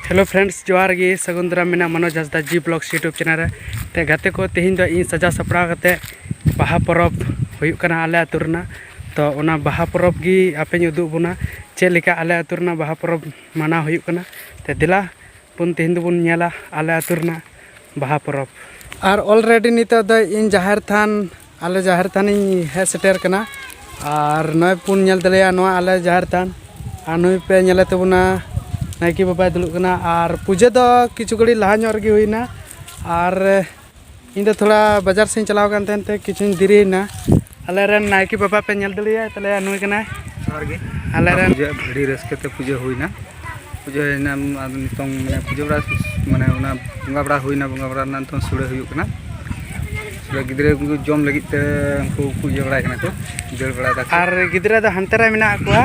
hello friends ᱡᱚᱦᱟᱨ ᱜᱮ ᱥᱟᱹᱜᱩᱱ ᱫᱟᱨᱟᱢ ᱢᱮᱱᱟᱜ Manoj Hansda ji blogs YouTube channel ᱨᱮ ᱛᱮ ᱜᱟᱛᱮ ᱠᱚ ᱛᱮᱦᱮᱧ ᱫᱚ ᱤᱧ ᱥᱟᱡᱟᱣ ᱥᱟᱯᱲᱟᱣ ᱠᱟᱛᱮ ᱵᱟᱦᱟ ᱯᱚᱨᱚᱵᱽ ᱦᱩᱭᱩᱜ ᱠᱟᱱᱟ ᱟᱞᱮ ᱟᱹᱛᱩ ᱨᱮᱱᱟᱜ ᱛᱚ ᱚᱱᱟ ᱵᱟᱦᱟ ᱯᱚᱨᱚᱵᱽ ᱜᱮ ᱟᱯᱮᱧ ᱩᱫᱩᱜ ᱵᱚᱱᱟ ᱪᱮᱫ ᱞᱮᱠᱟ ᱟᱞᱮ ᱟᱹᱛᱩ ᱨᱮᱱᱟᱜ ᱵᱟᱦᱟ ᱯᱚᱨᱚᱵᱽ ᱢᱟᱱᱟᱣ ᱦᱩᱭᱩᱜ ᱠᱟᱱᱟ ᱛᱮ ᱫᱮᱞᱟ ᱵᱚᱱ ᱛᱮᱦᱮᱧ ᱫᱚᱵᱚᱱ ᱧᱮᱞᱟ ᱟᱞᱮ ᱟᱹᱛᱩ ᱨᱮᱱᱟᱜ ᱵᱟᱦᱟ ᱯᱚᱨᱚᱵᱽ ᱟᱨ ᱚᱞᱨᱮᱰᱤ ᱱᱤᱛᱚᱜ ᱫᱚ ᱤᱧ ᱡᱟᱦᱮᱨ ᱛᱷᱟᱱ ᱟᱞᱮ ᱡᱟᱦᱮᱨ ᱛᱷᱟᱱᱤᱧ ᱦᱮᱡ ᱥᱮᱴᱮᱨ ᱠᱟᱱᱟ ᱟᱨ ᱱᱚᱜᱼᱚᱭ ᱯᱩᱱ ᱧᱮᱞ ᱛᱟᱞᱮᱭᱟ ᱱᱚᱣᱟ ᱟᱞᱮ ᱡᱟᱦᱮᱨ ᱛᱷᱟᱱ ᱟᱨ ᱱᱩᱭ ᱯᱮ ᱧᱮᱞᱮ ᱛᱟᱵᱚᱱᱟ ᱱᱟᱭᱠᱮ ᱵᱟᱵᱟᱭ ᱫᱩᱲᱩᱵ ᱠᱟᱱᱟ ᱟᱨ ᱯᱩᱡᱟᱹ ᱫᱚ ᱠᱤᱪᱷᱩ ᱜᱷᱟᱹᱲᱤᱡ ᱞᱟᱦᱟ ᱧᱚᱜ ᱨᱮᱜᱮ ᱦᱩᱭᱱᱟ ᱟᱨ ᱤᱧ ᱫᱚ ᱛᱷᱚᱲᱟ ᱵᱟᱡᱟᱨ ᱥᱮᱫ ᱪᱟᱞᱟᱣ ᱠᱟᱱ ᱛᱟᱦᱮᱱ ᱛᱮ ᱠᱤᱪᱷᱩᱧ ᱫᱮᱨᱤᱭᱮᱱᱟ ᱟᱞᱮ ᱨᱮᱱ ᱱᱟᱭᱠᱮ ᱵᱟᱵᱟ ᱯᱮ ᱧᱮᱞ ᱫᱟᱲᱮᱭᱟᱭ ᱛᱟᱞᱮᱭᱟ ᱱᱩᱭ ᱠᱟᱱᱟᱭ ᱡᱚᱦᱟᱨ ᱜᱮ ᱟᱞᱮ ᱨᱮᱱ ᱟᱹᱰᱤ ᱨᱟᱹᱥᱠᱟᱹ ᱛᱮ ᱯᱩᱡᱟᱹ ᱦᱩᱭᱱᱟ ᱯᱩᱡᱟᱹ ᱦᱩᱭᱱᱟ ᱟᱫᱚ ᱱᱤᱛᱚᱝ ᱢᱟᱱᱮ ᱯᱩᱡᱟᱹ ᱵᱟᱲᱟ ᱢᱟᱱᱮ ᱚᱱᱟ ᱵᱚᱸᱜᱟ ᱵᱟᱲᱟ ᱦᱩᱭᱱᱟ ᱵᱚᱸᱜᱟ ᱵᱟᱲᱟ ᱨᱮᱱᱟᱜ ᱱᱤᱛᱚᱝ ᱥᱩᱲᱟᱹ ᱦᱩᱭᱩᱜ ᱠᱟᱱᱟ ᱥᱩᱲᱟᱹ ᱜᱤᱫᱽᱨᱟᱹ ᱠᱚ ᱡᱚᱢ ᱞᱟᱹᱜᱤᱫ ᱛᱮ ᱩᱱᱠᱩ ᱠᱚ ᱤᱭᱟᱹ ᱵᱟᱲᱟᱭ ᱠᱟᱱᱟ ᱠᱚ ᱫᱟᱹᱲ ᱵᱟᱲᱟᱭ ᱫᱟᱠᱚ ᱟᱨ ᱜᱤᱫᱽᱨᱟᱹ ᱫᱚ ᱦᱟᱱᱛᱮ ᱨᱮ ᱢᱮᱱᱟᱜ ᱠᱚᱣᱟ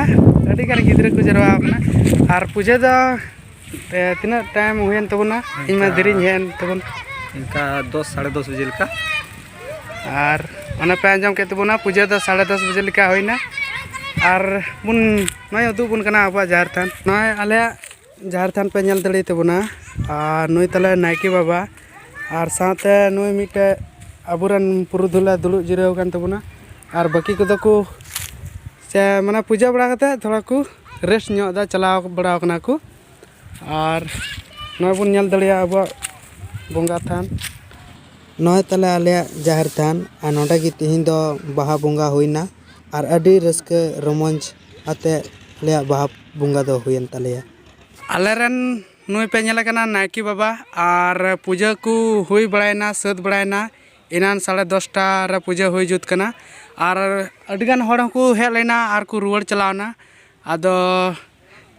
ᱟᱹᱰᱤ ᱜᱟᱱ ᱜᱤᱫᱽᱨᱟᱹ ᱠᱚ ᱡᱟᱨᱣᱟ ᱟᱠᱟᱱᱟ ᱟᱨ ᱯᱩᱡᱟᱹ ᱫᱚ ᱛᱤᱱᱟᱹᱜ ᱴᱟᱭᱤᱢ ᱦᱩᱭᱮᱱ ᱛᱟᱵᱚᱱᱟ ᱤᱧ ᱢᱟ ᱫᱮᱨᱤᱧ ᱦᱮᱡ ᱮᱱ ᱛᱟᱵᱚᱱ ᱤᱱᱠᱟ ᱫᱚᱥ ᱥᱟᱲᱮ ᱫᱚᱥ ᱵᱟᱡᱮ ᱞᱮᱠᱟ ᱟᱨ ᱚᱱᱟ ᱯᱮ ᱟᱸᱡᱚᱢ ᱠᱮᱫ ᱛᱟᱵᱚᱱᱟ ᱯᱩᱡᱟᱹ ᱫᱚ ᱥᱟᱲᱮ ᱫᱚᱥ ᱵᱟᱡᱮ ᱞᱮᱠᱟ ᱦᱩᱭᱱᱟ ᱟᱨ ᱵᱚᱱ ᱱᱚᱜᱼᱚᱭ ᱩᱫᱩᱜ ᱵᱚᱱ ᱠᱟᱱᱟ ᱟᱵᱚᱣᱟᱜ ᱡᱟᱦᱮᱨ ᱛᱷᱟᱱ ᱱᱚᱜᱼᱚᱭ ᱟᱞᱮᱭᱟᱜ ᱡᱟᱦᱮᱨ ᱛᱷᱟᱱ ᱯᱮ ᱧᱮᱞ ᱫᱟᱲᱮ ᱛᱟᱵᱚᱱᱟ ᱟᱨ ᱱᱩᱭ ᱛᱟᱞᱮ ᱱᱟᱭᱠᱮ ᱵᱟᱵᱟ ᱟᱨ ᱥᱟᱶᱛᱮ ᱱᱩᱭ ᱢᱤᱫᱴᱮᱡ ᱟᱵᱚᱨᱮᱱ ᱯᱩᱨᱩᱫᱷᱩᱞᱮ ᱫᱩᱲᱩᱵ ᱡᱤᱨᱟᱹᱣ ᱟᱠᱟᱱ ᱛᱟᱵᱚᱱᱟ ᱟᱨ ᱵᱟᱹᱠᱤ ᱠᱚᱫᱚ ᱠᱚ ᱥᱮ ᱢᱟᱱᱮ ᱯᱩᱡᱟᱹ ᱵᱟᱲᱟ ᱠᱟᱛᱮᱫ ᱛᱷᱚᱲᱟ ᱠᱚ ᱨᱮᱥᱴ ᱧᱚᱜ ᱮᱫᱟ ᱪᱟᱞᱟᱣ ᱵᱟᱲᱟᱣ ᱠᱟᱱᱟ ᱠᱚ ᱟᱨ ᱱᱚᱜᱼᱚᱭ ᱵᱚᱱ ᱧᱮᱞ ᱫᱟᱲᱮᱭᱟᱜᱼᱟ ᱟᱵᱚᱣᱟᱜ ᱵᱚᱸᱜᱟ ᱛᱷᱟᱱ ᱱᱚᱜᱼᱚᱭ ᱛᱟᱞᱮ ᱟᱞᱮᱭᱟᱜ ᱡᱟᱦᱮᱨ ᱛᱷᱟᱱ ᱟᱨ ᱱᱚᱰᱮ ᱜᱮ ᱛᱤᱦᱤᱧ ᱫᱚ ᱵᱟᱦᱟ ᱵᱚᱸᱜᱟ ᱦᱩᱭᱱᱟ ᱟᱨ ᱟᱹᱰᱤ ᱨᱟᱹᱥᱠᱟᱹ ᱨᱚᱢᱚᱡᱽ ᱟᱛᱮ ᱟᱞᱮᱭᱟᱜ ᱵᱟᱦᱟ ᱵᱚᱸᱜᱟ ᱫᱚ ᱦᱩᱭᱮᱱ ᱛᱟᱞᱮᱭᱟ ᱟᱞᱮ ᱨᱮᱱ ᱱᱩᱭ ᱯᱮ ᱧᱮᱞᱮ ᱠᱟᱱᱟ ᱱᱟᱭᱠᱮ ᱵᱟᱵᱟ ᱟᱨ ᱯᱩᱡᱟᱹ ᱠᱚ ᱦᱩᱭ ᱵᱟᱲᱟᱭᱮᱱᱟ ᱥᱟᱹᱛ ᱵᱟᱲᱟᱭᱮᱱᱟ ᱮᱱᱟᱱ ᱥᱟᱲᱮ ᱫᱚᱥᱴᱟ ᱨᱮ ᱯᱩᱡᱟᱹ ᱦᱩᱭ ᱡᱩᱛ ᱠᱟᱱᱟ ᱟᱨ ᱟᱹᱰᱤ ᱜᱟᱱ ᱦᱚᱲ ᱦᱚᱸᱠᱚ ᱦᱮᱡ ᱞᱮᱱᱟ ᱟᱨ ᱠᱚ ᱨᱩᱣᱟᱹᱲ ᱪᱟᱞᱟᱣᱱᱟ ᱟᱫᱚ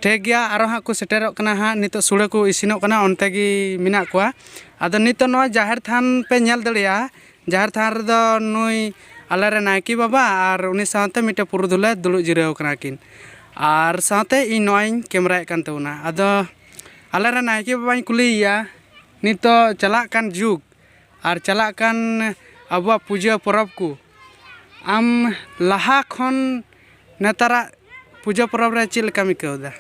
ᱴᱷᱤᱠ ᱜᱮᱭᱟ ᱟᱨᱚ ᱦᱟᱸᱜ ᱠᱚ ᱥᱮᱴᱮᱨᱚᱜ ᱠᱟᱱᱟ ᱦᱟᱸᱜ ᱱᱤᱛᱚᱜ ᱥᱩᱲᱟᱹ ᱠᱚ ᱤᱥᱤᱱᱚᱜ ᱠᱟᱱᱟ ᱚᱱᱛᱮ ᱜᱮ ᱢᱮᱱᱟᱜ ᱠᱚᱣᱟ ᱟᱫᱚ ᱱᱤᱛᱚᱜ ᱱᱚᱣᱟ ᱡᱟᱦᱮᱨ ᱛᱷᱟᱱ ᱯᱮ ᱧᱮᱞ ᱫᱟᱲᱮᱭᱟᱜᱼᱟ ᱡᱟᱦᱮᱨ ᱛᱷᱟᱱ ᱨᱮᱫᱚ ᱱᱩᱭ ᱟᱞᱮ ᱨᱮᱱ ᱱᱟᱭᱠᱮ ᱵᱟᱵᱟ ᱟᱨ ᱩᱱᱤ ᱥᱟᱶᱛᱮ ᱢᱤᱫᱴᱮᱱ ᱯᱩᱨᱩᱫᱷᱩᱞᱮ ᱫᱩᱲᱩᱵ ᱡᱤᱨᱟᱹᱣ ᱠᱟᱱᱟ ᱠᱤᱱ ᱟᱨ ᱥᱟᱶᱛᱮ ᱤᱧ ᱱᱚᱜᱼᱚᱭᱤᱧ ᱠᱮᱢᱮᱨᱟᱭᱮᱫ ᱠᱟᱱ ᱛᱟᱵᱚᱱᱟ ᱟᱫᱚ ᱟᱞᱮ ᱨᱮᱱ ᱱᱟᱭᱠᱮ ᱵᱟᱵᱟᱧ ᱠᱩᱞᱤᱭᱮᱭᱟ ᱱᱤᱛᱚᱜ ᱪᱟᱞᱟᱜ ᱠᱟᱱ ᱡᱩᱜᱽ ᱟᱨ ᱪᱟᱞᱟᱜ ᱠᱟᱱ ᱟᱵᱚᱣᱟᱜ ᱯᱩᱡᱟᱹ ᱯᱚᱨᱚᱵᱽ ᱠᱚ ᱟᱢ ᱞᱟᱦᱟ ᱠᱷᱚᱱ ᱱᱮᱛᱟᱨᱟᱜ ᱯᱩᱡᱟᱹ ᱯᱚᱨᱚᱵᱽ ᱨᱮ ᱪᱮᱫ ᱞᱮᱠᱟᱢ ᱟᱹᱭᱠᱟᱹᱣ ᱮᱫᱟ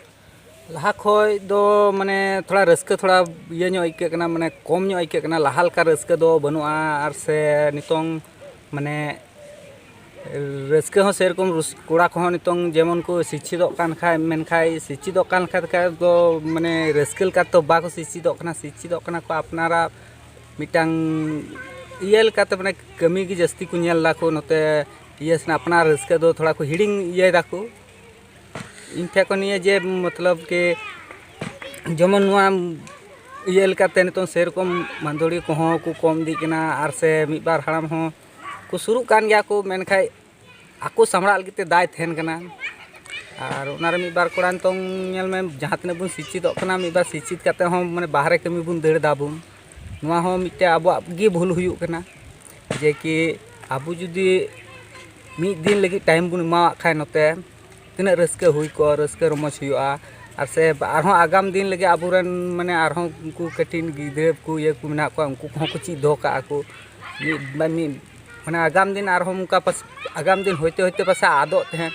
ᱞᱟᱦᱟ ᱠᱷᱚᱱ ᱫᱚ ᱢᱟᱱᱮ ᱛᱷᱚᱲᱟ ᱨᱟᱹᱥᱠᱟᱹ ᱛᱷᱚᱲᱟ ᱤᱭᱟᱹ ᱧᱚᱜ ᱟᱹᱭᱠᱟᱹᱜ ᱠᱟᱱᱟ ᱢᱟᱱᱮ ᱠᱚᱢ ᱧᱚᱜ ᱟᱹᱭᱠᱟᱹᱜ ᱠᱟᱱᱟ ᱞᱟᱦᱟ ᱞᱮᱠᱟ ᱨᱟᱹᱥᱠᱟᱹ ᱫᱚ ᱵᱟᱹᱱᱩᱜᱼᱟ ᱟᱨ ᱥᱮ ᱱᱤᱛᱚᱝ ᱢᱟᱱᱮ ᱨᱟᱹᱥᱠᱟᱹ ᱦᱚᱸ ᱥᱮᱨᱚᱠᱚᱢ ᱠᱚᱲᱟ ᱠᱚᱦᱚᱸ ᱱᱤᱛᱚᱝ ᱡᱮᱢᱚᱱ ᱠᱚ ᱥᱤᱪᱪᱷᱤᱛᱚᱜ ᱠᱟᱱ ᱠᱷᱟᱡ ᱢᱮᱱᱠᱷᱟᱡ ᱥᱤᱪᱪᱷᱤᱛᱚᱜ ᱠᱟᱱ ᱠᱷᱟᱡ ᱫᱚ ᱢᱟᱱᱮ ᱨᱟᱹᱥᱠᱟᱹ ᱞᱮᱠᱟ ᱛᱮᱫᱚ ᱵᱟᱠᱚ ᱥᱤᱪᱪᱷᱤᱛᱚᱜ ᱠᱟᱱᱟ ᱥᱤᱪᱪᱷᱤᱛᱚᱜ ᱠᱟᱱᱟ ᱠᱚ ᱟᱯᱱᱟᱨᱟᱜ ᱢᱤᱫᱴᱟᱝ ᱤᱭᱟᱹ ᱞᱮᱠᱟᱛᱮ ᱢᱟᱱᱮ ᱠᱟᱹᱢᱤ ᱜᱮ ᱡᱟᱹᱥᱛᱤ ᱠᱚ ᱧᱮᱞ ᱫᱟᱠᱚ ᱱᱚᱛᱮ ᱤᱭᱟᱹ ᱥᱮᱱᱟᱜ ᱟᱯᱱᱟᱨ ᱨᱟᱹᱥᱠᱟᱹ ᱫᱚ ᱛᱷᱚᱲᱟ ᱠᱚ ᱦᱤᱲᱤᱧ ᱤᱭᱟᱹᱭ ᱫᱟᱠᱚ ᱤᱧ ᱴᱷᱮᱱ ᱠᱷᱚᱱ ᱱᱤᱭᱟᱹ ᱡᱮ ᱢᱚᱛᱞᱚᱵ ᱠᱤ ᱡᱮᱢᱚᱱ ᱱᱚᱣᱟ ᱤᱭᱟᱹ ᱞᱮᱠᱟᱛᱮ ᱱᱤᱛᱚᱝ ᱥᱮᱨᱚᱠᱚᱢ ᱢᱟᱹᱫᱟᱹᱲᱤᱭᱟᱹ ᱠᱚᱦᱚᱸ ᱠᱚ ᱠᱚᱢ ᱤᱫᱤᱜ ᱠᱟᱱᱟ ᱟᱨ ᱥᱮ ᱢᱤᱫ ᱵᱟᱨ ᱦᱟᱲᱟᱢ ᱦᱚᱸ ᱠᱚ ᱥᱩᱨᱩᱜ ᱠᱟᱱ ᱜᱮᱭᱟ ᱠᱚ ᱢᱮᱱᱠᱷᱟᱱ ᱟᱠᱚ ᱥᱟᱢᱵᱽᱲᱟᱜ ᱞᱟᱹᱜᱤᱫ ᱛᱮ ᱫᱟᱭ ᱛᱟᱦᱮᱱ ᱠᱟᱱᱟ ᱟᱨ ᱚᱱᱟ ᱨᱮ ᱢᱤᱫ ᱵᱟᱨ ᱠᱚᱲᱟ ᱱᱤᱛᱚᱝ ᱧᱮᱞ ᱢᱮ ᱡᱟᱦᱟᱸ ᱛᱤᱱᱟᱹᱜ ᱵᱚᱱ ᱥᱤᱪᱪᱷᱤᱛᱚᱜ ᱠᱟᱱᱟ ᱢᱤᱫ ᱵᱟᱨ ᱥᱤᱪᱪᱷᱤᱛ ᱠᱟᱛᱮᱫ ᱦᱚᱸ ᱢᱟᱱᱮ ᱵᱟᱦᱨᱮ ᱠᱟᱹᱢᱤ ᱵᱚᱱ ᱫᱟᱹᱲ ᱫᱟᱵᱚᱱ ᱱᱚᱣᱟ ᱦᱚᱸ ᱢᱤᱫᱴᱮᱱ ᱟᱵᱚᱣᱟᱜ ᱜᱮ ᱵᱷᱩᱞ ᱦᱩᱭᱩᱜ ᱠᱟᱱᱟ ᱡᱮ ᱠᱤ ᱟᱵᱚ ᱡᱩᱫᱤ ᱢᱤᱫ ᱫᱤᱱ ᱞᱟᱹᱜᱤᱫ ᱴᱟᱭᱤᱢ ᱵᱚᱱ ᱮᱢᱟᱣᱟᱜ ᱠᱷᱟᱱ ᱱᱚᱛᱮ ᱛᱤᱱᱟᱹᱜ ᱨᱟᱹᱥᱠᱟᱹ ᱦᱩᱭ ᱠᱚᱜᱼᱟ ᱨᱟᱹᱥᱠᱟᱹ ᱨᱚᱢᱚᱡᱽ ᱦᱩᱭᱩᱜᱼᱟ ᱟᱨ ᱥᱮ ᱟᱨᱦᱚᱸ ᱟᱜᱟᱢ ᱫᱤᱱ ᱞᱟᱹᱜᱤᱫ ᱟᱵᱚ ᱨᱮᱱ ᱢᱟᱱᱮ ᱟᱨᱦᱚᱸ ᱩᱱᱠᱩ ᱠᱟᱹᱴᱤᱡ ᱜᱤᱫᱽᱨᱟᱹ ᱠᱚ ᱤᱭᱟᱹ ᱠᱚ ᱢᱮᱱᱟᱜ ᱠᱚᱣᱟ ᱩᱱᱠᱩ ᱠᱚᱦᱚᱸ ᱠᱚ ᱪᱮᱫ ᱫᱚᱦᱚ ᱠᱟᱜᱼᱟ ᱠᱚ ᱢᱤᱫ ᱢᱟᱱᱮ ᱟᱜᱟᱢ ᱫᱤᱱ ᱟᱨᱦᱚᱸ ᱚᱱᱠᱟ ᱯᱟᱥᱮᱡ ᱟᱜᱟᱢ ᱫᱤᱱ ᱦᱚᱭᱛᱮ ᱦᱚᱭᱛᱮ ᱯᱟᱥᱮᱡ ᱟᱫᱚᱜ ᱛᱟᱦᱮᱸᱫ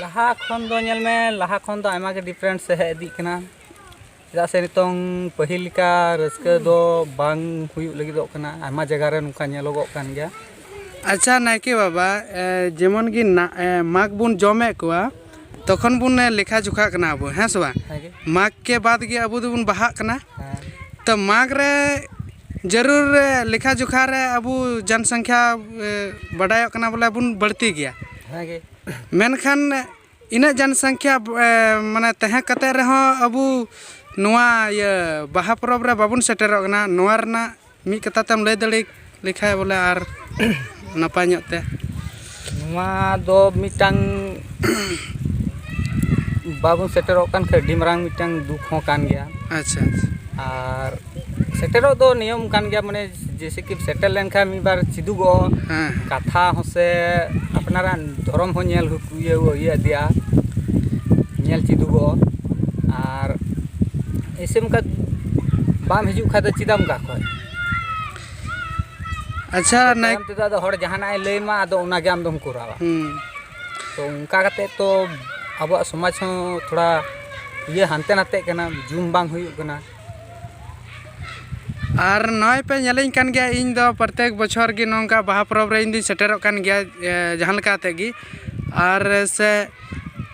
ᱞᱟᱦᱟ ᱠᱷᱚᱱ ᱫᱚ ᱧᱮᱞ ᱢᱮ ᱞᱟᱦᱟ ᱠᱷᱚᱱ ᱫᱚ ᱟᱭᱢᱟ ᱜᱮ ᱰᱤᱯᱷᱟᱨᱮᱱᱥ ᱦᱮᱡ ᱤᱫᱤᱜ ᱠᱟᱱᱟ ᱪᱮᱫᱟᱜ ᱥᱮ ᱱᱤᱛᱚᱝ ᱯᱟᱹᱦᱤᱞ ᱞᱮᱠᱟ ᱨᱟᱹᱥᱠᱟᱹ ᱫᱚ ᱵᱟᱝ ᱦᱩᱭᱩᱜ ᱞᱟᱹᱜᱤᱫᱚᱜ ᱠᱟᱱᱟ ᱟᱭᱢᱟ ᱡᱟᱭᱜᱟ ᱨᱮ ᱱᱚᱝᱠᱟ ᱧᱮᱞᱚᱜᱚᱜ ᱠᱟᱱ ᱜᱮᱭᱟ ᱟᱪᱪᱷᱟ ᱱᱟᱭᱠᱮ ᱵᱟᱵᱟ ᱡᱮᱢᱚᱱ ᱜᱮ ᱢᱟᱜᱽ ᱵᱚᱱ ᱡᱚᱢᱮᱫ ᱠᱚᱣᱟ ᱛᱚᱠᱷᱚᱱ ᱵᱚᱱ ᱞᱮᱠᱷᱟ ᱡᱚᱠᱷᱟᱜ ᱠᱟᱱᱟ ᱟᱵᱚ ᱦᱮᱸ ᱥᱮ ᱵᱟᱝ ᱢᱟᱜᱽ ᱠᱮ ᱵᱟᱫᱽ ᱜᱮ ᱟᱵᱚ ᱫᱚᱵᱚᱱ ᱵᱟᱦᱟᱜ ᱠᱟᱱᱟ ᱛᱚ ᱢᱟᱜᱽ ᱨᱮ ᱡᱟᱹᱨᱩᱲ ᱞᱮᱠᱷᱟ ᱡᱚᱠᱷᱟ ᱨᱮ ᱟᱵᱚ ᱡᱚᱱ ᱥᱚᱝᱠᱷᱟ ᱵᱟᱰᱟᱭᱚᱜ ᱠᱟᱱᱟ ᱵᱚᱞᱮ ᱵᱚᱱ ᱵᱟᱹᱲᱛᱤ ᱜᱮᱭᱟ ᱢᱮᱱᱠᱷᱟᱱ ᱤᱱᱟᱹᱜ ᱡᱚᱱ ᱥᱚᱝᱠᱷᱟ ᱢᱟᱱᱮ ᱛᱟᱦᱮᱸ ᱠᱟᱛᱮ ᱨᱮᱦᱚᱸ ᱟᱵᱚ ᱱᱚᱣᱟ ᱤᱭᱟᱹ ᱵᱟᱦᱟ ᱯᱚᱨᱚᱵᱽ ᱨᱮ ᱵᱟᱵᱚᱱ ᱥᱮᱴᱮᱨᱚᱜ ᱠᱟᱱᱟ ᱱᱚᱣᱟ ᱨᱮᱱᱟᱜ ᱢᱤᱫ ᱠᱟᱛᱷᱟ ᱛᱮᱢ ᱞᱟᱹᱭ ᱫᱟᱲᱮ ᱞᱮᱠᱷᱟᱡ ᱵᱚᱞᱮ ᱟᱨ ᱱᱟᱯᱟᱭ ᱧᱚᱜ ᱛᱮ ᱱᱚᱣᱟ ᱫᱚ ᱢᱤᱫᱴᱟᱝ ᱵᱟᱵᱚᱱ ᱥᱮᱴᱮᱨᱚᱜ ᱠᱟᱱ ᱠᱷᱟᱡ ᱟᱹᱰᱤ ᱢᱟᱨᱟᱝ ᱢᱤᱫᱴᱟᱝ ᱫᱩᱠ ᱦᱚᱸ ᱠᱟᱱ ᱜᱮᱭᱟ ᱟᱪᱪᱷᱟ ᱟᱨ ᱥᱮᱴᱮᱨᱚᱜ ᱫᱚ ᱱᱤᱭᱚᱢ ᱠᱟᱱ ᱜᱮᱭᱟ ᱢᱟᱱᱮ ᱡᱮᱭᱥᱮ ᱠᱤ ᱥᱮᱴᱮᱨ ᱞᱮᱱᱠᱷᱟᱱ ᱢᱤᱫ ᱵᱟᱨ ᱪᱮᱫᱚᱜᱚᱜᱼᱟ ᱦᱮᱸ ᱠᱟᱛᱷᱟ ᱦᱚᱸ ᱥᱮ ᱟᱯᱱᱟᱨᱟᱜ ᱫᱷᱚᱨᱚᱢ ᱦᱚᱸ ᱧᱮᱞ ᱤᱭᱟᱹ ᱤᱭᱟᱹ ᱤᱫᱤᱜᱼᱟ ᱧᱮᱞ ᱪᱮᱫᱚᱜᱚᱜᱼᱟ ᱟᱨ ᱮᱭᱥᱮ ᱚᱱᱠᱟ ᱵᱟᱢ ᱦᱤᱡᱩᱜ ᱠᱷᱟᱱ ᱫᱚ ᱪᱮᱫᱟᱜ ᱮᱢ ᱚᱱᱠᱟ ᱠᱷᱚᱡ ᱟᱪᱪᱷᱟ ᱱᱟᱭ ᱛᱟᱭᱚᱢ ᱛᱮᱫᱚ ᱟᱫᱚ ᱦᱚᱲ ᱡᱟᱦᱟᱱᱟᱜ ᱮ ᱞᱟᱹᱭᱟᱢᱟ ᱟᱫᱚ ᱚᱱᱟᱜᱮ ᱟᱢ ᱫᱚᱢ ᱠᱚᱨᱟᱣᱟ ᱦᱩᱸ ᱛᱚ ᱚᱱᱠᱟ ᱠᱟᱛᱮᱫ ᱛᱚ ᱟᱵᱚᱣᱟᱜ ᱥᱚᱢᱟᱡᱽ ᱦᱚᱸ ᱛᱷᱚᱲᱟ ᱤᱭᱟᱹ ᱦᱟᱱᱛᱮ ᱱᱟᱛᱮᱜ ᱠᱟᱱᱟ ᱡᱩᱢ ᱵᱟᱝ ᱦᱩᱭᱩᱜ ᱠᱟᱱᱟ ᱟᱨ ᱱᱚᱜᱼᱚᱭ ᱯᱮ ᱧᱮᱞᱤᱧ ᱠᱟᱱ ᱜᱮᱭᱟ ᱤᱧ ᱫᱚ ᱯᱨᱚᱛᱮᱠ ᱵᱚᱪᱷᱚᱨ ᱜᱮ ᱱᱚᱝᱠᱟ ᱵᱟᱦᱟ ᱯᱚᱨᱚᱵᱽ ᱨᱮ ᱤᱧ ᱫᱚᱧ ᱥᱮᱴᱮᱨᱚᱜ ᱠᱟᱱ ᱜᱮᱭᱟ ᱡᱟᱦᱟᱸ ᱞᱮᱠᱟ ᱠᱟᱛᱮᱫ ᱜᱮ ᱟᱨ ᱥᱮ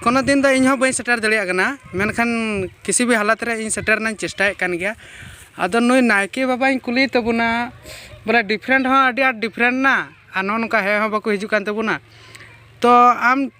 ᱠᱳᱱᱳ ᱫᱤᱱ ᱫᱚ ᱤᱧ ᱦᱚᱸ ᱵᱟᱹᱧ ᱥᱮᱴᱮᱨ ᱫᱟᱲᱮᱭᱟᱜ ᱠᱟᱱᱟ ᱢᱮᱱᱠᱷᱟᱱ ᱠᱤᱥᱤ ᱵᱷᱤ ᱦᱟᱞᱚᱛ ᱨᱮ ᱤᱧ ᱥᱮᱴᱮᱨ ᱨᱮᱱᱟᱜ ᱤᱧ ᱪᱮᱥᱴᱟᱭᱮᱫ ᱠᱟᱱ ᱜᱮᱭᱟ ᱟᱫᱚ ᱱᱩᱭ ᱱᱟᱭᱠᱮ ᱵᱟᱵᱟᱧ ᱠᱩᱞᱤᱭᱮ ᱛᱟᱵᱚᱱᱟ ᱵᱚᱞᱮ ᱰᱤᱯᱷᱨᱮᱱᱴ ᱦᱚᱸ ᱟᱹᱰᱤ ᱟᱸᱴ ᱰᱤᱯᱷᱨᱮᱱᱴ ᱮᱱᱟ ᱟᱨ ᱱᱚᱜᱼᱚ ᱱᱚᱝᱠᱟ ᱦᱮᱡ ᱦᱚᱸ ᱵᱟᱠᱚ ᱦᱤᱡᱩᱜ ᱠᱟᱱ ᱛᱟᱵᱚᱱᱟ ᱛᱚ ᱟᱢ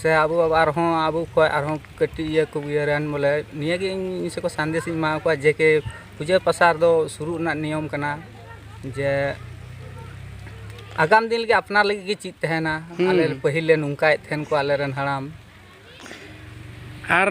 ᱥᱮ ᱟᱵᱚ ᱟᱨᱦᱚᱸ ᱟᱵᱚ ᱠᱷᱚᱡ ᱟᱨᱦᱚᱸ ᱠᱟᱹᱴᱤᱡ ᱤᱭᱟᱹ ᱠᱚ ᱤᱭᱟᱹ ᱨᱮᱱ ᱵᱚᱞᱮ ᱱᱤᱭᱟᱹ ᱜᱮ ᱤᱧ ᱤᱧ ᱥᱮᱫ ᱠᱷᱚᱡ ᱥᱟᱸᱫᱮᱥ ᱤᱧ ᱮᱢᱟᱣ ᱠᱚᱣᱟ ᱡᱮ ᱠᱮ ᱯᱩᱡᱟᱹ ᱯᱟᱥᱟ ᱨᱮᱫᱚ ᱥᱩᱨᱩᱜ ᱨᱮᱱᱟᱜ ᱱᱤᱭᱚᱢ ᱠᱟᱱᱟ ᱡᱮ ᱟᱜᱟᱢ ᱫᱤᱱ ᱞᱟᱹᱜᱤᱫ ᱟᱯᱱᱟᱨ ᱞᱟᱹᱜᱤᱫ ᱜᱮ ᱪᱮᱫ ᱛᱟᱦᱮᱱᱟ ᱟᱞᱮ ᱯᱟᱹᱦᱤᱞ ᱞᱮ ᱱᱚᱝᱠᱟᱭᱮᱫ ᱛᱟᱦᱮᱱ ᱠᱚ ᱟᱞᱮ ᱨᱮᱱ ᱦᱟᱲᱟᱢ ᱟᱨ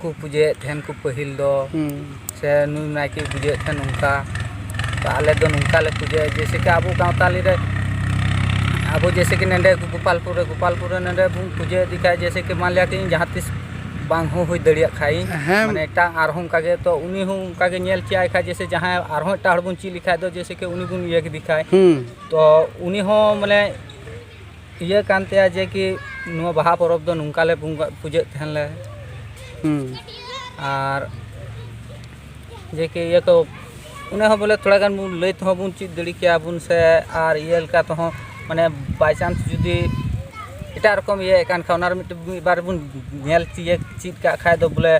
ᱠᱚ ᱯᱩᱡᱟᱹᱭᱮᱫ ᱛᱟᱦᱮᱱ ᱠᱚ ᱯᱟᱹᱦᱤᱞ ᱫᱚ ᱥᱮ ᱱᱩᱭ ᱱᱟᱭᱠᱮ ᱯᱩᱡᱟᱹᱭᱮᱫ ᱛᱟᱦᱮᱱ ᱱᱚᱝᱠᱟ ᱟᱞᱮ ᱫᱚ ᱱᱚᱝᱠᱟ ᱞᱮ ᱯᱩᱡᱟᱹᱭᱟ ᱡᱮᱭᱥᱮ ᱠᱤ ᱟᱵᱚ ᱥᱟᱶᱛᱟᱞᱤ ᱨᱮ ᱟᱵᱚ ᱡᱮᱭᱥᱮ ᱠᱤ ᱱᱚᱰᱮ ᱜᱳᱯᱟᱞᱯᱩᱨ ᱨᱮ ᱜᱳᱯᱟᱞᱯᱩᱨ ᱨᱮ ᱱᱚᱰᱮ ᱵᱚᱱ ᱯᱩᱡᱟᱹ ᱤᱫᱤ ᱠᱷᱟᱱ ᱡᱮᱭᱥᱮ ᱠᱤ ᱢᱟᱱᱞᱤᱭᱟ ᱠᱤ ᱤᱧ ᱡᱟᱦᱟᱸ ᱛᱤᱥ ᱵᱟᱝ ᱦᱚᱸ ᱦᱩᱭ ᱫᱟᱲᱮᱭᱟᱜ ᱠᱷᱟᱱ ᱤᱧ ᱢᱟᱱᱮ ᱮᱴᱟᱜ ᱟᱨᱦᱚᱸ ᱚᱱᱠᱟ ᱜᱮ ᱛᱚ ᱩᱱᱤ ᱦᱚᱸ ᱚᱱᱠᱟ ᱜᱮ ᱧᱮᱞ ᱪᱮᱫ ᱟᱭ ᱠᱷᱟᱱ ᱡᱮᱭᱥᱮ ᱡᱟᱦᱟᱸᱭ ᱟᱨᱦᱚᱸ ᱮᱴᱟᱜ ᱦᱚᱲ ᱵᱚᱱ ᱪᱮᱫ ᱞᱮᱠᱷᱟᱱ ᱫᱚ ᱡᱮᱭᱥᱮ ᱠᱤ ᱩᱱᱤ ᱵᱚᱱ ᱤᱭᱟᱹ ᱠᱮᱫᱮ ᱠᱷᱟᱱ ᱛᱚ ᱩᱱᱤ ᱦᱚᱸ ᱢᱟᱱᱮ ᱤᱭᱟᱹ ᱠᱟᱱ ᱛᱟᱭᱟ ᱡᱮ ᱠᱤ ᱱᱚᱣᱟ ᱵᱟᱦᱟ ᱯᱚᱨᱚᱵᱽ ᱫᱚ ᱱᱚᱝᱠᱟ ᱞᱮ ᱵᱚᱸᱜᱟ ᱯᱩᱡᱟᱹᱜ ᱛᱟᱦᱮᱱ ᱞᱮ ᱟᱨ ᱡᱮ ᱠᱤ ᱤᱭᱟᱹ ᱠᱚ ᱚᱱᱟ ᱦᱚᱸ ᱵᱚᱞᱮ ᱛᱷᱚᱲᱟ ᱜᱟᱱ ᱵᱚᱱ ᱞᱟᱹᱭ ᱛᱮᱦᱚᱸ ᱵᱚᱱ ᱪᱮᱫ ᱫᱟᱲᱮ ᱠᱮᱭᱟ ᱵᱚᱱ ᱥᱮ ᱟᱨ ᱤᱭᱟᱹ ᱞᱮᱠᱟ ᱛᱮᱦᱚᱸ ᱢᱟᱱᱮ ᱵᱟᱭ ᱪᱟᱱᱥ ᱡᱩᱫᱤ ᱮᱴᱟᱜ ᱨᱚᱠᱚᱢ ᱤᱭᱟᱹᱭᱮᱫ ᱠᱟᱱ ᱠᱷᱟᱡ ᱚᱱᱟ ᱨᱮ ᱢᱤᱫᱴᱮᱡ ᱢᱤᱫ ᱵᱟᱨ ᱵᱚᱱ ᱧᱮᱞ ᱛᱤᱭᱟᱹᱜ ᱪᱮᱫ ᱠᱟᱜ ᱠᱷᱟᱡ ᱫᱚ ᱵᱚᱞᱮ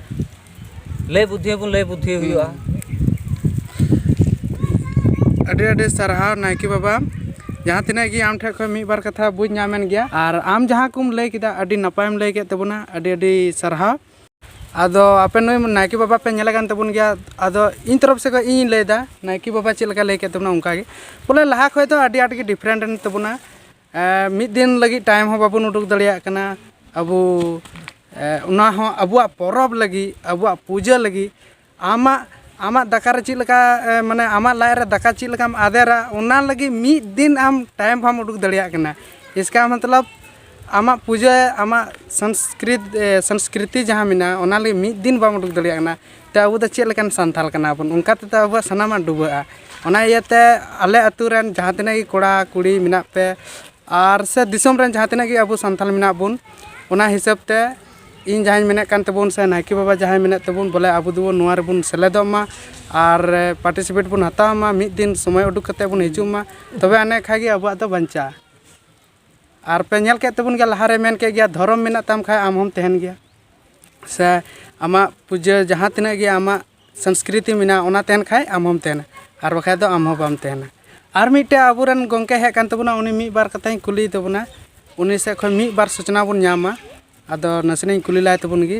ᱞᱟᱹᱭ ᱵᱩᱫᱽᱫᱷᱤ ᱦᱚᱸᱵᱚᱱ ᱞᱟᱹᱭ ᱵᱩᱫᱽᱫᱷᱤ ᱦᱩᱭᱩᱜᱼᱟ ᱟᱹᱰᱤ ᱟᱹᱰᱤ ᱥᱟᱨᱦᱟᱣ ᱱᱟᱭᱠᱮ ᱵᱟᱵᱟ ᱡᱟᱦᱟᱸ ᱛᱤᱱᱟᱹᱜ ᱜᱮ ᱟᱢ ᱴᱷᱮᱱ ᱠᱷᱚᱱ ᱢᱤᱫ ᱵᱟᱨ ᱠᱟᱛᱷᱟ ᱵᱩᱡᱽ ᱧᱟᱢᱮᱱ ᱜᱮᱭᱟ ᱟᱨ ᱟᱢ ᱡᱟᱦᱟᱸ ᱠᱚᱢ ᱞᱟᱹᱭ ᱠᱮᱫᱟ ᱟᱹᱰᱤ ᱱᱟᱯᱟᱭᱮᱢ ᱞᱟᱹᱭ ᱠᱮᱫ ᱛᱟᱵᱚᱱᱟ ᱟᱹᱰᱤ ᱟᱹᱰᱤ ᱥᱟᱨᱦᱟᱣ ᱟᱫᱚ ᱟᱯᱮ ᱱᱩᱭ ᱱᱟᱭᱠᱮ ᱵᱟᱵᱟ ᱯᱮ ᱧᱮᱞᱮ ᱠᱟᱱ ᱛᱟᱵᱚᱱ ᱜᱮᱭᱟ ᱟᱫᱚ ᱤᱧ ᱛᱚᱨᱚᱯ ᱥᱮᱫ ᱠᱷᱚᱱ ᱤᱧᱤᱧ ᱞᱟᱹᱭᱫᱟ ᱱᱟᱭᱠᱮ ᱵᱟᱵᱟ ᱪᱮᱫ ᱞᱮᱠᱟᱭ ᱞᱟᱹᱭ ᱠᱮᱫ ᱛᱟᱵᱚᱱᱟ ᱚᱱᱠᱟ ᱜᱮ ᱵᱚᱞᱮ ᱞᱟᱦᱟ ᱠᱷᱚᱱ ᱫᱚ ᱟᱹᱰᱤ ᱟᱸᱴ ᱜᱮ ᱰᱤᱯᱷᱟᱨᱮᱱᱴ ᱮᱱ ᱛᱟᱵᱚᱱᱟ ᱢᱤᱫ ᱫᱤᱱ ᱞᱟᱹᱜᱤᱫ ᱴᱟᱭᱤᱢ ᱦᱚᱸ ᱵᱟᱵᱚᱱ ᱩᱰᱩᱠ ᱫᱟᱲᱮᱭᱟᱜ ᱠᱟᱱᱟ ᱟᱵᱚ ᱚᱱᱟ ᱦᱚᱸ ᱟᱵᱚᱣᱟᱜ ᱯᱚᱨᱚᱵᱽ ᱞᱟᱹᱜᱤᱫ ᱟᱵᱚᱣᱟᱜ ᱯᱩᱡᱟᱹ ᱞᱟᱹᱜᱤᱫ ᱟᱢᱟᱜ ᱟᱢᱟᱜ ᱫᱟᱠᱟ ᱨᱮ ᱪᱮᱫ ᱞᱮᱠᱟ ᱢᱟᱱᱮ ᱟᱢᱟᱜ ᱞᱟᱡ ᱨᱮ ᱫᱟᱠᱟ ᱪᱮᱫ ᱞᱮᱠᱟᱢ ᱟᱫᱮᱨᱟ ᱚᱱᱟ ᱞᱟᱹᱜᱤᱫ ᱢᱤᱫ ᱫᱤᱱ ᱟᱢ ᱴᱟᱭᱤᱢ ᱵᱟᱢ ᱩᱰᱩᱠ ᱫᱟᱲᱮᱭᱟᱜ ᱠᱟᱱᱟ ᱤᱥᱠᱟ ᱢᱚᱛᱞᱚᱵ ᱟᱢᱟᱜ ᱯᱩᱡᱟᱹ ᱟᱢᱟᱜ ᱥᱚᱝᱥᱠᱨᱤᱛ ᱥᱚᱝᱥᱠᱨᱤᱛᱤ ᱡᱟᱦᱟᱸ ᱢᱮᱱᱟᱜᱼᱟ ᱚᱱᱟ ᱞᱟᱹᱜᱤᱫ ᱢᱤᱫ ᱫᱤᱱ ᱵᱟᱢ ᱩᱰᱩᱠ ᱫᱟᱲᱮᱭᱟᱜ ᱠᱟᱱᱟ ᱛᱮ ᱟᱵᱚ ᱫᱚ ᱪᱮᱫ ᱞᱮᱠᱟᱱ ᱥᱟᱱᱛᱟᱲ ᱠᱟᱱᱟ ᱵᱚᱱ ᱚᱱᱠᱟ ᱛᱮᱫᱚ ᱟᱵᱚᱣᱟᱜ ᱥᱟᱱᱟᱢᱟᱜ ᱰᱩᱵᱟᱹᱜᱼᱟ ᱚᱱᱟ ᱤᱭᱟᱹᱛᱮ ᱟᱞᱮ ᱟᱛᱳ ᱨᱮᱱ ᱡᱟᱦᱟᱸ ᱛᱤᱱᱟᱹᱜ ᱜᱮ ᱠᱚᱲᱟ ᱠᱩᱲᱤ ᱢᱮᱱᱟᱜ ᱯᱮ ᱟᱨ ᱥᱮ ᱫᱤᱥᱚᱢ ᱨᱮᱱ ᱡᱟᱦᱟᱸ ᱛᱤᱱᱟᱹᱜ ᱜᱮ ᱟᱵᱚ ᱥᱟᱱᱛᱟᱲ ᱢᱮᱱᱟᱜ ᱵᱚᱱ ᱚᱱᱟ ᱦᱤᱥᱟᱹᱵ ᱛᱮ ᱤᱧ ᱡᱟᱦᱟᱸᱧ ᱢᱮᱱᱮᱫ ᱠᱟᱱ ᱛᱟᱵᱚᱱ ᱥᱮ ᱱᱟᱭᱠᱮ ᱵᱟᱵᱟ ᱡᱟᱦᱟᱸᱭ ᱢᱮᱱᱮᱫ ᱛᱟᱵᱚᱱ ᱵᱚᱞᱮ ᱟᱵᱚ ᱫᱚᱵᱚᱱ ᱱᱚᱣᱟ ᱨᱮᱵᱚᱱ ᱥᱮᱞᱮᱫᱚᱜ ᱢᱟ ᱟᱨ ᱯᱟᱨᱴᱤᱥᱤᱯᱮᱴ ᱵᱚᱱ ᱦᱟᱛᱟᱣ ᱢᱟ ᱢᱤᱫ ᱫᱤᱱ ᱥᱚᱢᱚᱭ ᱩᱰᱩᱠ ᱠᱟᱛᱮᱫ ᱵᱚᱱ ᱦᱤᱡᱩᱜ ᱢᱟ ᱛᱚᱵᱮ ᱟᱹᱱᱤᱡ ᱠᱷᱟᱱ ᱜᱮ ᱟᱵᱚᱣᱟᱜ ᱫᱚ ᱵᱟᱧᱪᱟᱜᱼᱟ ᱟᱨ ᱯᱮ ᱧᱮᱞ ᱠᱮᱫ ᱛᱟᱵᱚᱱ ᱜᱮᱭᱟ ᱞᱟᱦᱟᱨᱮ ᱢᱮᱱ ᱠᱮᱫ ᱜᱮᱭᱟ ᱫᱷᱚᱨᱚᱢ ᱢᱮᱱᱟᱜ ᱛᱟᱢ ᱠᱷᱟᱱ ᱟᱢ ᱦᱚᱢ ᱛᱟᱦᱮᱱ ᱜᱮᱭᱟ ᱥᱮ ᱟᱢᱟᱜ ᱯᱩᱡᱟᱹ ᱡᱟᱦᱟᱸ ᱛᱤᱱᱟᱹᱜ ᱜᱮ ᱟᱢᱟᱜ ᱥᱚᱝᱥᱠᱨᱤᱛᱤ ᱢᱮᱱᱟᱜᱼᱟ ᱚᱱᱟ ᱛᱟᱦᱮᱱ ᱠᱷᱟᱱ ᱟᱢ ᱦᱚᱢ ᱛᱟᱦᱮᱱᱟ ᱟᱨ ᱵᱟᱠᱷᱟᱱ ᱫᱚ ᱟᱢ ᱦᱚᱸ ᱵᱟᱢ ᱛᱟᱦᱮᱱᱟ ᱟᱨ ᱢᱤᱫᱴᱮᱱ ᱟᱵᱚ ᱨᱮᱱ ᱜᱚᱢᱠᱮ ᱦᱮᱡ ᱟᱠᱟᱱ ᱛᱟᱵᱚᱱᱟ ᱩᱱᱤ ᱢᱤᱫ ᱵᱟᱨ ᱠᱟᱛᱷᱟᱧ ᱠᱩᱞᱤᱭᱮ ᱛᱟᱵᱚᱱᱟ ᱩᱱᱤ ᱥᱮᱫ ᱠᱷᱚᱱ ᱢᱤᱫ ᱵᱟᱨ ᱥᱩᱪᱱᱟ ᱵᱚᱱ ᱧᱟᱢᱟ ᱟᱫᱚ ᱱᱟᱥᱮᱱᱟᱜ ᱤᱧ ᱠᱩᱞᱤ ᱞᱟᱦᱟᱭ ᱛᱟᱵᱚᱱ ᱜᱮ